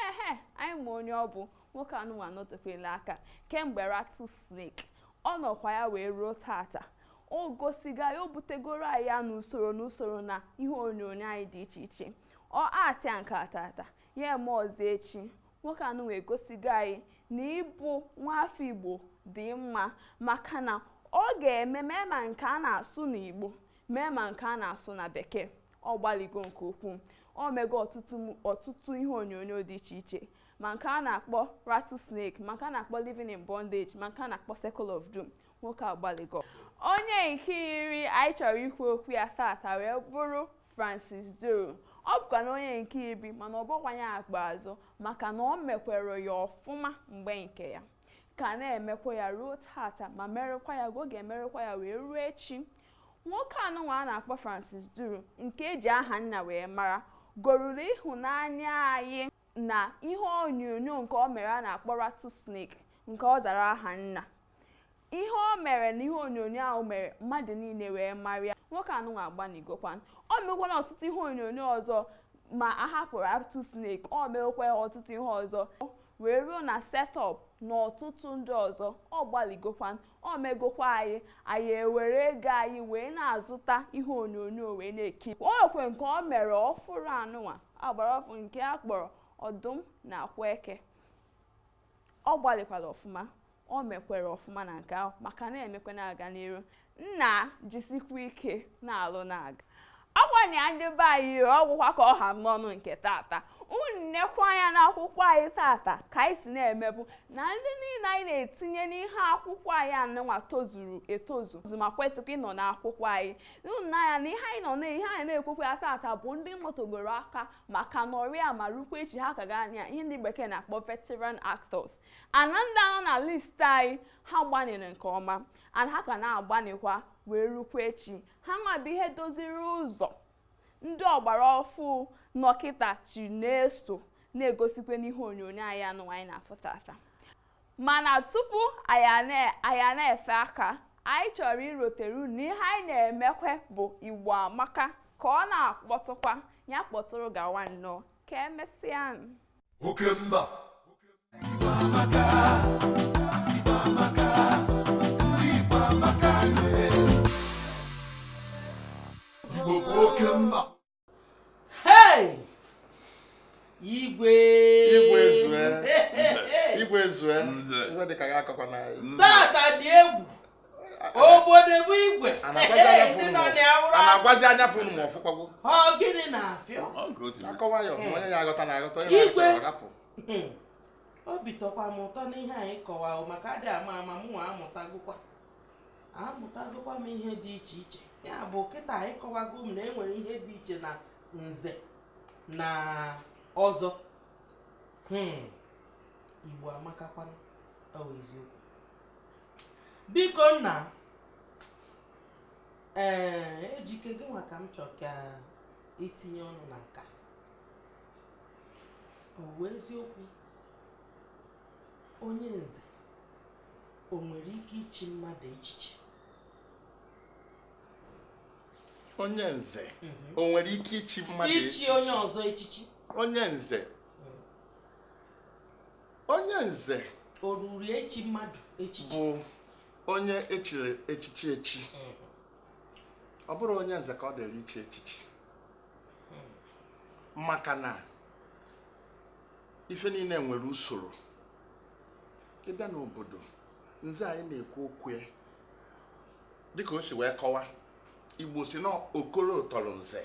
Speaker 5: ehe anyị ma onye ọ bụ nwoke anụnwa nọtefela aka kemgbe Rattle Snake ọ nọkwa ya wee ruo tata o gosigo anyị o butegoro anyị ya n'usoro n'usoro na ihe onyonyo anyị dị iche iche ọ actịa nke tata ya eme ọzọ echi nwoke anụnwa egosigo anyị na ịbụ nwaafọ igbo dị mma maka na ọ ga-eme mee ma nke a na-asụ n'igbo mee ma nke a na-asụ na bekee ọ gbaligo nke ukwuu o mego ọtụtụ m- ọtụtụ ihe onyonyo dị iche iche ma nke a na-akpọ rattlesnake ma nke a na-akpọ living in bondage ma nke a na-akpọ circle of doom nwoke agbaligo onye nke iri anyị chọrọ ikwu okwu ya tata wee bụrụ Francis Duru ọ bụkwa na onye nke iri mana ọ bụkwa onye ikpeazụ maka na o mekwere ya ọfụma mgbe nke ya ka na-emekwa ya ruo tata ma merekwa ya oge emerekwa ya wee ruo echi nwoke anụnwa a na-akpọ Francis Duru nke e ji Ahanna wee mara goruru ịhụnanya anyị na ihe onyonyo nke o mere a na-akpọ Rattle Snake nke ọ zara Ahanna ihe o mere na ihe onyonyo ahụ mere mmadụ niile wee mara ya nwoke anụnwa agbaligokwan o mekwana ọtụtụ ihe onyonyo ọzọ ma a hapụrụ Rattle Snake o mekwa ọtụtụ ihe ọzọ wee ruo na Set Up na ọtụtụ ndị ọzọ ọ gbaligokwan o megokwa anyị anyị ewere ego anyị wee na-azụta ihe onyonyo wee na-ekiri o nwekwe nke o mere ọfụrụ anụnwa a gbara ọfụ nke a kpọrọ Ọdụm na Akwaeke ọ gbalịkwara ọfụma o mekwere ọfụma na nke ahụ ma ka na-emekwa na-aga n'iru nna jisikwa ike na-alụ na-aga ngwanụ ndị be anyị ọ gwụkwa ka ọ ha m n'ọnụ nke tata unu nekwa anya n'akwụkwọ anyị tata ka anyị si na-emebu na ndị niile anyị na-etinye n'ihe akwụkwọ anyị anụnwa tozuru etozu ma kwesịkwa ịnọ n'akwụkwọ anyị unu nee anya na ihe anyị nọ na ihe anyị na-ekwukwa ya tata bụ ndị nọtegoro aka ma ka nọrọ ya ma rukwa echi ha ka ga-anọ ya ihe ndị bekee na-akpọ veteran actors and ndị a nọ na list anyị ha gbanịrị nke ọma and ha ka na-agbanịkwa wee rukwa echi ha nwa bụ ihe doziri ụzọ ndị ọgbara ọfụ nọ kịta ji na-eso na-egosikwa n'ihe onyonyo anyị anụnwa anyị na-afụ tata mana tupu anyị na-efe aka anyị chọrọ irotere unu na ihe anyị na-emekwe bụ igbo amaka ka ọ na-akpọtụkwa ya kpọtụrụ gawa nnọọ ka emesịa
Speaker 2: Okemba
Speaker 1: na-agwazi
Speaker 6: anya fụ ma ọ fụkwagwo gịnị
Speaker 1: na-afịọ akọwa ya
Speaker 6: onye ya aghọta na aghọta onye na-arapụ
Speaker 1: hmm. obi tọkwa m ụtọ n'ihe anyị kọwarụ maka adị ama ama m nwa amụtagokwa amụtagokwa m ihe dị iche iche ya bụ kịta anyị kọwago m na e nwere ihe dị iche na nze na ọzọ hmm. igbo amakakwanụ ọ bụ eziokwu biko nna ee ejike gị nwa ka m chọrọ ka i tinye ọnụ na nka ọ bụ eziokwu onye nze o nwere ike ichi mmadụ echichi
Speaker 6: onye nze mhm. o nwere ike ichi mmadụ
Speaker 1: echichi ichi onye ọzọ
Speaker 6: echichi onye nze onye nze o
Speaker 1: ruru ichi mmadụ echichi bụ
Speaker 6: onye e chiri echichi echi mhm. ọ bụrụ onye nze ka ọ dịrị ichi echichi maka na ife niile nwere usoro ị bịa n'obodo nze anyị na-ekwu okwu ya dịka o si wee kọwa igbo si na okoro tọrọ nze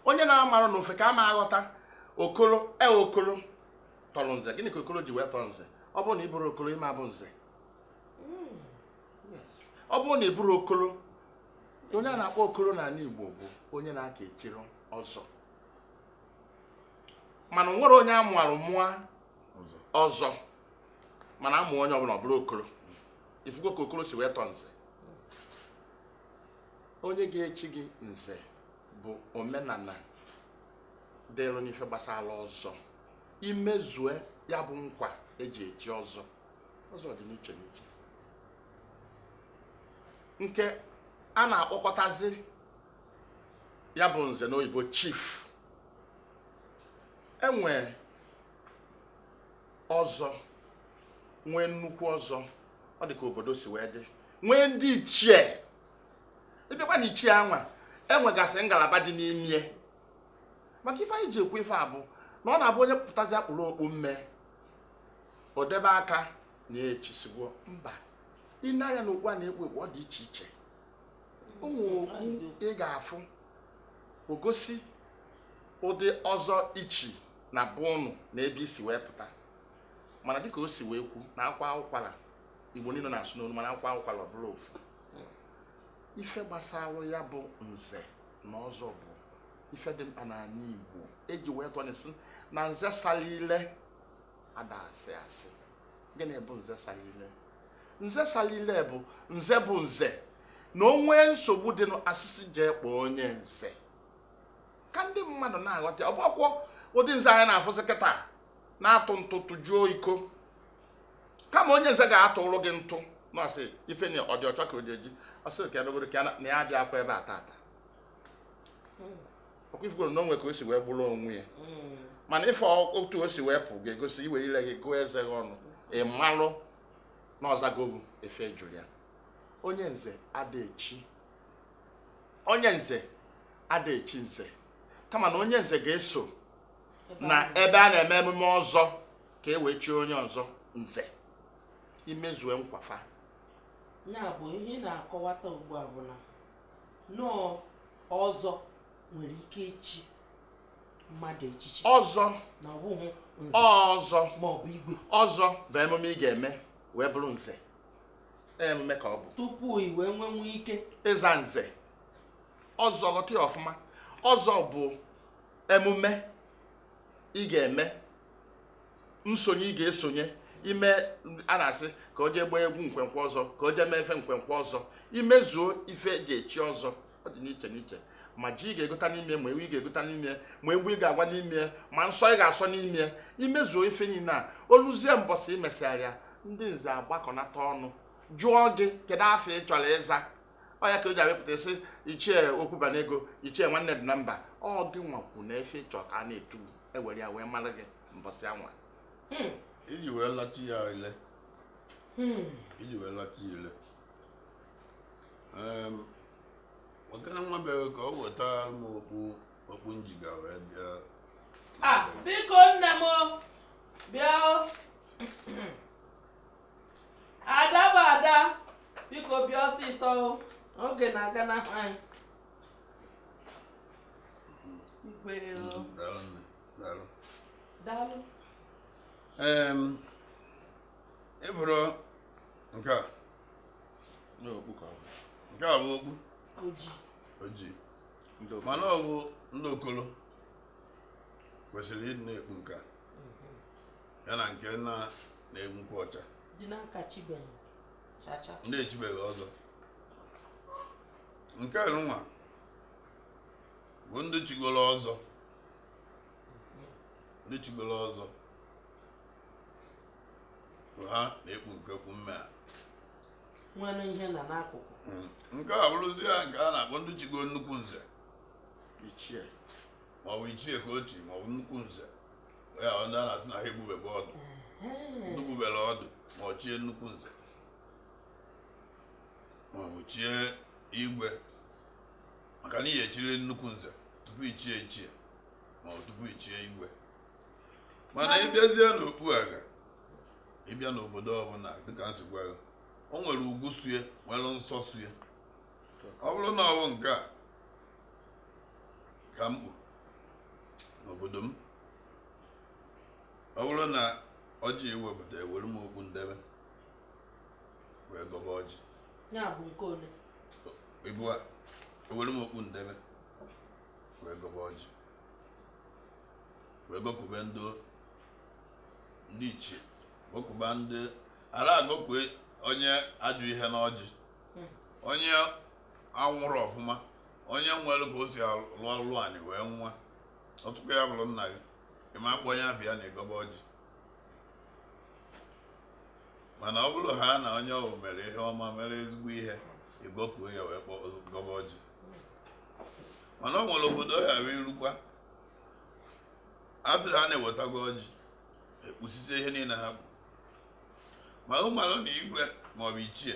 Speaker 6: onye na-amarọ n'ofe ka a ma aghọta okoro e okoro tọrọ nze gịnị ka okoro ji wee tọrọ nze ọ bụrụ na ị bụrọ okoro ị ma-abụ nze ọ bụrụ na ị bụrụ okoro onye a na-akpọ okoro n'ala Igbo bụ onye na-aka echirọ ọzọ mana e nwerọ onye a mụarụ mụa ọzọ mana a mụa onye ọbụla ọ bụrụ okoro ị fụgo ka okoro si wee tọọ nze onye ga-echi gị nze bụ omenala dịrụ n'ife gbasara ọzọ i mezue ya bụ nkwa e ji echi ọzọ ọzọ dị n'iche n'iche nke a na-akpọkọtazi ya bụ nze n'oyibo chief e nwee ọzọ nwee nnukwu ọzọ ọ dị ka obodo si wee dị nwee ndị ichie ịbịakwa na ichie anwa enwegasị ngalaba dị n'ime maka ife anyị ji ekwu ife a bụ na ọ na-abụ onye pụtazia kpuru okpu mme o debe aka na echisigo mba i nee anya na okpu a na-ekpu ekpu ọ dị iche iche o nwee okpu ị ga-afụ o gosi ụdị ọzọ i chi na be ụnụ na ebe i si wee pụta mana dịka o si wee kwu na a kwaa ụkwara igbo niile na-asụ n'olu mana a kwaa ụkwara ọ bụrụ ofu ife gbasara ya bụ nze na ọzọ bụ ife dị mkpa n'ala igbo eji wee tụọ inu sị na nze salụ ile ada asị asị gịnị bụ nze salụ ile nze salụ ile bụ nze bụ nze na o nwee nsogbu dịnụ a sị sị jee kpọọ onye nze ka ndị mmadụ na-aghọta ọ bụkwọ ụdị nze anyị na-afụzi kịta na-atụ ntụ tụjuo iko kama onye nze ga-atụlụ gị ntụ na ọ sị ife na ọ dị ọcha ka o ji eji ọ sị ka ebegoro ka na ya bịakwa ebe a tata ọkwa ị fụgoro na o nwe ka o si wee gburu onwe ya mm. mana ife otu o si wee pụ ga-egosi i wee ire gị gụọ eze gị ọnụ ị malụ na ọ zago gị ife ị jụrụ ya onye nze ada echi onye nze ada echi nze kama na onye nze ga-eso na ebe a na-eme emume ọzọ ka e wee chie onye ọzọ nze i mezue nkwafa ya
Speaker 1: bụ ihe ị na-akọwata ugbu a bụ na na ọ ọzọ nwere ike
Speaker 4: ichi mmadụ echichi ọzọ na ọ
Speaker 6: bụghị
Speaker 4: nze ọzọ ma ọ
Speaker 6: bụ igwe
Speaker 4: ọzọ bụ emume
Speaker 6: ị ga-eme wee bụrụ nze emume ka ọ bụ tupu i wee
Speaker 4: nwenwu ike ịza
Speaker 6: nze ọzọ ghọta ya ọfụma ọzọ bụ emume ị ga-eme nsonye ị ga-esonye ime a na-asị ka o jee gbaa egwu nkwenkwe ọzọ ka o jee mee ife nkwenkwe ọzọ imezuo ife eji echi ọzọ ọ dị n'iche n'iche ma ji ị ga-egota n'ime ma ewu ị ga-egota n'ime ma egwu ị ga-agba n'ime ma nsọ ị ga-asọ n'ime imezuo ife niile a o luzie mbọsị imesịgharịa ndị nze agbakọnata ọnụ jụọ gị kedu afa ị chọrọ ịza ọ ya ka o ji abịapụta sị ichie okwubanego ichie nwanne dị na mba ọ gị nwakwu na ife ị chọ ka a na-etu e were ya wee mara gị mbọsị anwa hmm.
Speaker 3: iji wee lachi ya ile hmm. iji wee lachi ile ọkana nwa bịara ka o weta m okpu okpu m jiga wee bịa ah, biko
Speaker 4: nne m bịa ada bụ ada biko bịa ọsịsọ oge na-aganahụ anyị
Speaker 3: daalụ i buru nke a nke a bụ okpu ojii mana ọ bụ ndị okolo kwesịrị ịdị na-ekpu nke a ya na nke na na-egbu nkwụ
Speaker 4: ọcha ndị echibeghị
Speaker 3: ọzọ nke nwa bụ ndị chigoro ọzọ ndị chigoro ọzọ bụ ha na-ekpu nke okpu mme a
Speaker 4: nwere ihe na n'akụkụ nke a
Speaker 3: bụrụzi ya nke a na-akpọ ndị chigo nnukwu nze
Speaker 6: ichie
Speaker 3: maọbụ ichie ka o chi maọbụ nnukwu nze ya bụ ndị a na-asị na ha egbubebe ọdụ ndị gbubere ọdụ ma ọ chie nnukwu nze maọbụ chie igwe maka na ị ya-echiriri nnukwu nze tupu i chie ichie ma ọ tupu i chie igwe mana ị bịazie n'okpu a ga ị bịa n'obodo ọbụla dịka m si gwa gị o nwere ugwu so ya nwere nsọ so ya ọ bụrụ na ọ bụ nke a ka m kpu n'obodo m ọ bụrụ na ọjị e wepụta ewere m okpu m debe wee gọba ọjị ya bụ nke
Speaker 4: ole
Speaker 3: Ebua, ewere m okpu m debe wee gọba ọjị wee gọkube ndị ndị ichie gọkuba ndị ara agọkue onye ajọ ihe n'ọjị hmm. onye anwụrọ ọfụma onye nwere ka o si alụ ọlụ anyị wee nwụa ọtụkwa ya bụrụ nna gị ị ma akpọ onye afa ya na ị gọba ọjị mana ọ bụrụhaa na onye ọ wụ mere ihe ọma mere ezigbo ihe ị gọkuo ya wee kpọọ gọba ọjị mana o nwere obodo ha wee i rukwa a sịrị ha na ewetago ọjị ekpusisie ihe niile ha bụ ma ị malụ na igwe maọbụ ichie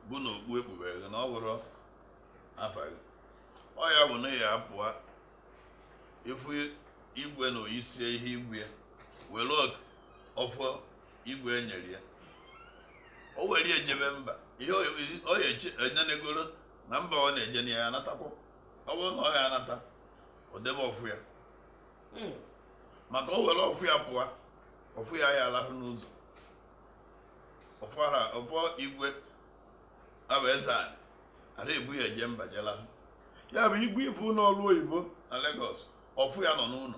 Speaker 3: bụ na okpu e kpubere gị na ọ bụrụ afa gị ọ ya bụ na ya apụa ị fụ igwe na o yisie ihe igwe were ọfọ igwe enyere ya o were ya jebe mba ihe o ya enyenegoro na mba ọ na-eje na ya anatakwa ọ bụrụ na ọ ya anata o debe ọfọ ya hmm. maka o were ọfọ ya pụọ ọfọ ya ya alahụ n'ụzọ ọfọ ara ọfọ igwe abụ eze anyị ara ebu ya eje mba jela ya bụ igwe ị fụ n'ọrụ oyibo na Lagos ọfọ ya nọ n'ụlọ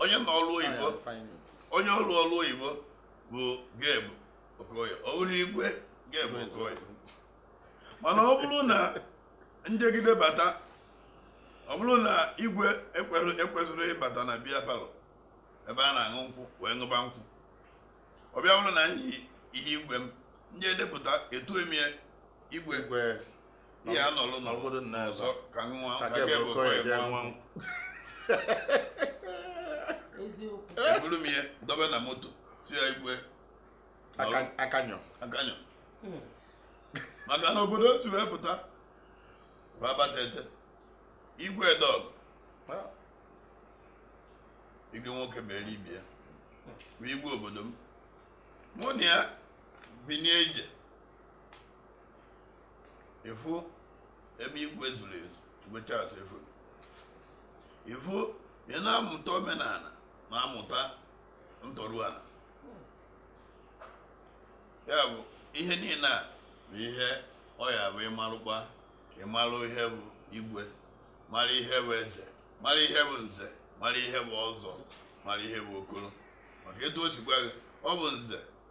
Speaker 3: onye nọ ọrụ oyibo onye rụ ọrụ oyibo bụ Gabe Okoye ọ bụrụ igwe Gabe Okoye mana ọ bụrụ na m jegide bata ọ bụrụ na igwe ekwesịrị ịbata na beer parlour ebe a na-aṅụ nkwụ wee ṅụba nkwụ ọ bịa bụrụ na m yi ihe igwe m ndị edepụta etue m igwe ihe a nọrọ na obodo nna ọzọ ka nwa ka gị bụ ka ya nwa eburu m ihe dobe na moto si ya igwe
Speaker 6: akanyọ akanyọ hmm.
Speaker 3: maka na obodo o si wee pụta babatete igwe dọg igwe nwoke mere ibi ya bụ igwe obodo m mụ na ya binye ije ịfụ ebe igwe zuru ezu igwe Charles efuru ịfụ ị na-amụta omenala na-amụta ntọrụala ya bụ ihe niile a bụ ihe ọ ya bụ ịmarụkwa ịmarụ ihe bụ igwe mara ihe bụ eze mara ihe bụ nze mara ihe bụ ọzọ mara ihe bụ okoro maka etu o sikwa gị ọ bụ nze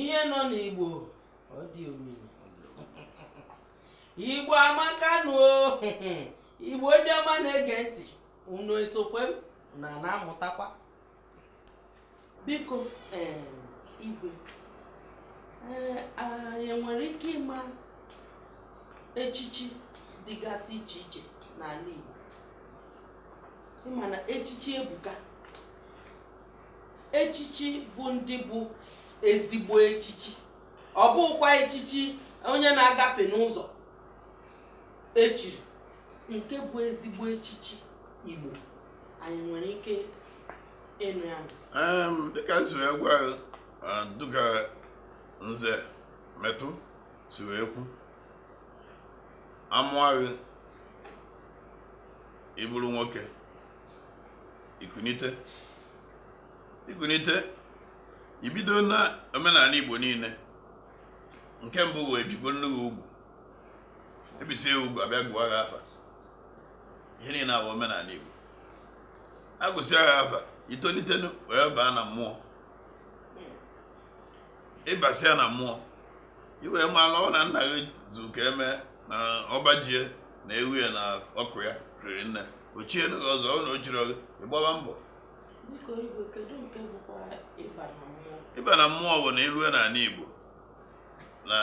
Speaker 4: ihe nọ n'igbo ọ dị omimi igbo amaka nụ o. igbo ndị ọma na-ege ntị unu esokwe m na na-amụtakwa biko em, igwe ee, anyị nwere ike ịma echichi dịgasị iche iche n'ala igbo ịma na echichi ebuka echichi bụ ndị bụ ezigbo echichi ọ bụkwa echichi onye na-agafe n'ụzọ echiri nke bụ ezigbo echichi Igbo anyị nwere ike ịnụ ya dịka m
Speaker 3: si wee kwu dịka nze Metu si wee kwu amụa gị ị bụrụ nwoke ikunite ikunite ibido na omenani Igbo niine nke mbụ bụ ebikwonụ gị ugwu ebisịa ugwu abịa gụwa gị afa ihe niine a bụ omenani Igbo agụsịa gị afa itonitenu wee baa na mmụọ ịbasịa na mmụọ iwee mala ọ na nna gị zu ka eme na ọba ji e na ewu ya na ọkụ ya riri nne ochienụ gị ọzọ ọ na ochiri gị ịgbaba mbọ Biko
Speaker 4: igwe kedu nke bụkwa ịba na mmụọ? ịba na mmụọ bụ
Speaker 3: na ilue n'ani Igbo na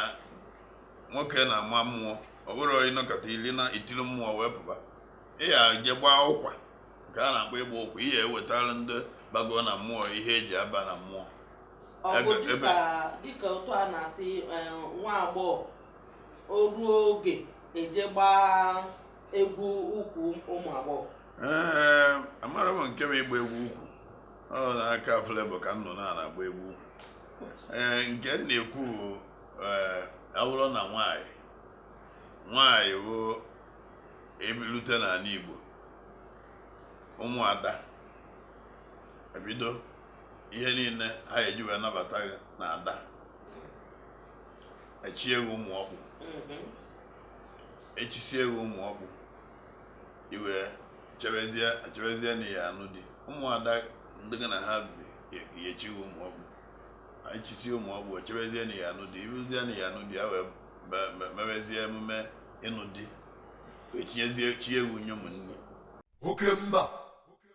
Speaker 3: nwoke na-ama mmụọ ọ bụrụ ịnọkata ili na itiri mmụọ wee pụba ị ya-eje gbaa ụkwa nke a na-akpọ ịgba ụkwa ihe ewetara ndị bago na mmụọ ihe eji aba na mmụọ Ọ bụ Ebe-
Speaker 4: ebe- dịka dịka otu a na-asị eh, nwa agbọghọ o ruo oge eje gbaa egwu ukwu ụmụ agbọghọ
Speaker 3: ee amara m nke bụ ịgba egwu ukwu ọ n'aka Flavour ka m nụ na-agba egwu ukwu ee nke m na-ekwu bụ ee awụrụ na nwanyị nwanyị bụ ebilute n'ani Igbo ụmụada ebido ihe niine ha eji wee nabata gị na ada echie gị ụmụ ọkpụ Mhm. echisie gị ụmụ ọkpụ iwee chebezie chebezie na ya anụ di ụmụada ndị gị na ha bi ga-echi gị ụmụ ọkpụ echisie ụmụ ọkpụ chebezie na ya anụ di iruzie na ya anụ di ya wee me- me- mewezie emume ịnụ di wee tinyezie chi ewu nye ụmụnne Okemba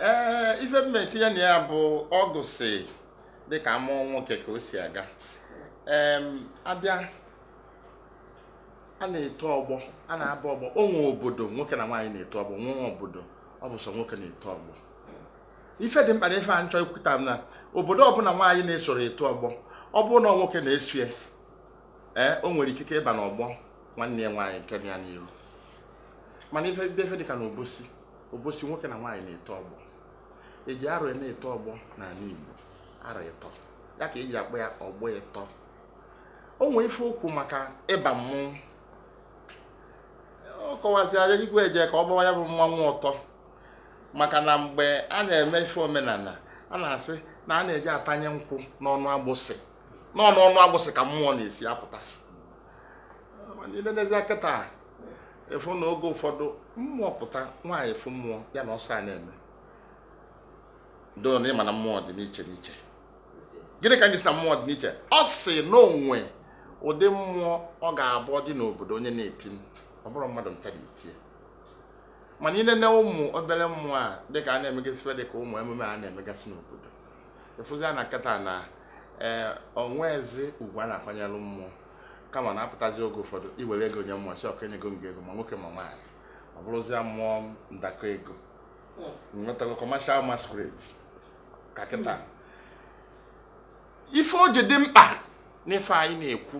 Speaker 6: ee ife m etinye na ya bụ ọgụ si dịka amụọ nwoke ka o si aga ee abịa a na-eto ọgbọ a na-aba ọgbọ o nwee obodo nwoke na nwaanyị na-eto ọgbọ nwee obodo ọ bụ sọ nwoke na-eto ọgbọ ife dị mkpa na ife a m chọ ikwuta bụ na obodo ọbụla nwaanyị na-esoro eto ọgbọ ọ bụrụ na nwoke na-eso ya ee o nwere ikike ịba n'ọgbọ nwanne ya nwaanyị nke ya n'iru mana ife bịa ife dịka na Obosi Obosi nwoke na nwaanyị na-eto ọgbọ eji arọ ya na-eto ọgbọ n'ani Igbo arọ ịtọ ya ka eji akpọ ya ọgbọ ịtọ o nwee ife o kwu maka ịba mmụọ ọ kọwazịa ya igwe ejeko ọgbawa ya bụ mmanwụ ọtọ maka na mgbe a na-eme ife omenala a na-asị na a na-eje atanye nkwụ n'ọnụ agbụsị n'ọnụ ọnụ agbụsị ka mmụọ na-esi apụta ilenezie kịta ịfụ na oge ụfọdụ mmụọ pụta nwaanyị fụ mmụọ ya na ọsọ a na-eme though na ị ma na mmụọ dị n'iche n'iche gịnị ka m ji sị na mmụọ dị n'iche ọ sị na o nwe ụdị mmụọ ọ ga-abụ dị n'obodo onye na-eti ọ bụrụ mmadụ nta na-eti mana ilene ụmụ obere mmụọ a dịka a na-emegasị ife dị ka ụmụ emume a na-emegasị n'obodo ịfụzia na kịta na o nwezi ugwu a na-akwanyeru mmụọ kama na-apụtazi oge ụfọdụ iwere ego nye mmụọ sị ok enyego m gị ego ma nwoke ma nwaanyị ọ bụrụzie mmụọ ndakọ ego nwetago commercial masquerade ka kịta ife o ji dị mkpa n'ife anyị na-ekwu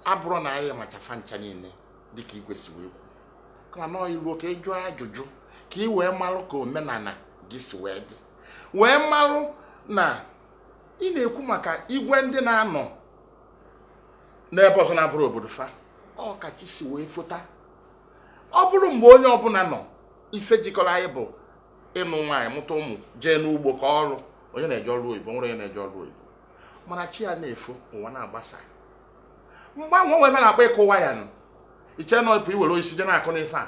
Speaker 6: abụrụ na anyị machafa ncha niile dịka igwe si wee kwu kama na i ruo ka ị jụọ ajụjụ ka ị wee marụ ka omenala gị si wee dị wee marụ na ị na-ekwu maka igwe ndị na-anọ n'ebe ọzọ na-abụrụ obodo fa ọ ka chi si wee fota ọ bụrụ mgbe onye ọbụla nọ ife jikọrọ anyị bụ ịnụ nwaanyị mụta ụmụ jee n'ugbo ka ọrụ onye na-eje ọrụ oyibo nwere onye na-eje ọrụ oyibo mana chi ya na-efo ụwa na-agbasa mgbanwe nwere a na-akpọ ịkụ waya nụ i che na ọ bụ iwere osisi je na-akụ n'ife a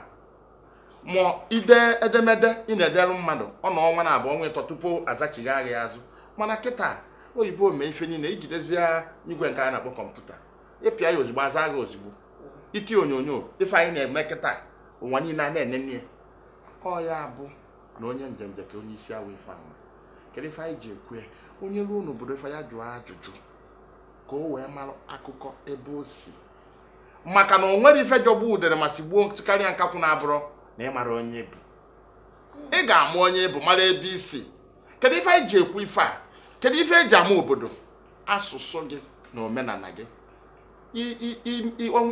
Speaker 6: ma ide edemede ị na-edere mmadụ ọ nọọ ọnwa naabụ ọnwa ịtọ tupu azachigha gị ya azụ mana kịta oyibo mee ife niile ijidezie igwe nke a na-akpọ kọmputa ịpịa ya ozugbo aza gị ozugbo iti onyonyo ife anyị na-eme kịta ụwa niile a na-enene ya ọ ya bụ na onye njenje ka onye isi awọ ife ama kedu ife anyị ji ekwu ya onye ruo n'obodo ife ya jụọ ajụjụ ka o wee mara akụkọ ebe o si maka na o nwere ife jọgbu udere ma sigbuo karịa nkakwụ na-abụrụ na ị mara onye ị bụ ị ga-ama onye ị bụ mara ebe i si kedu ife anyị ji ekwu ife a kedu ife eji ama obodo asụsụ gị na omenala gị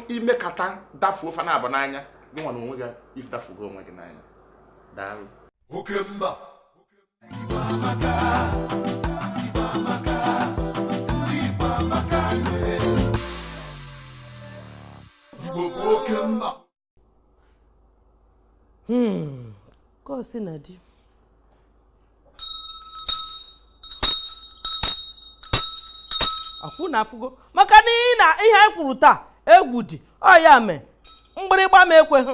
Speaker 6: imekata dafuo fa naabụ n'anya gị nwa na onwe gị idafugo onwe gị n'anya daalụ oke mba
Speaker 2: Hmm,
Speaker 4: ka o si na di akwụ na afụgo maka na ihe anyị kwuru taa egwu dị ọ ya mee mgbịrịgba m ekweghị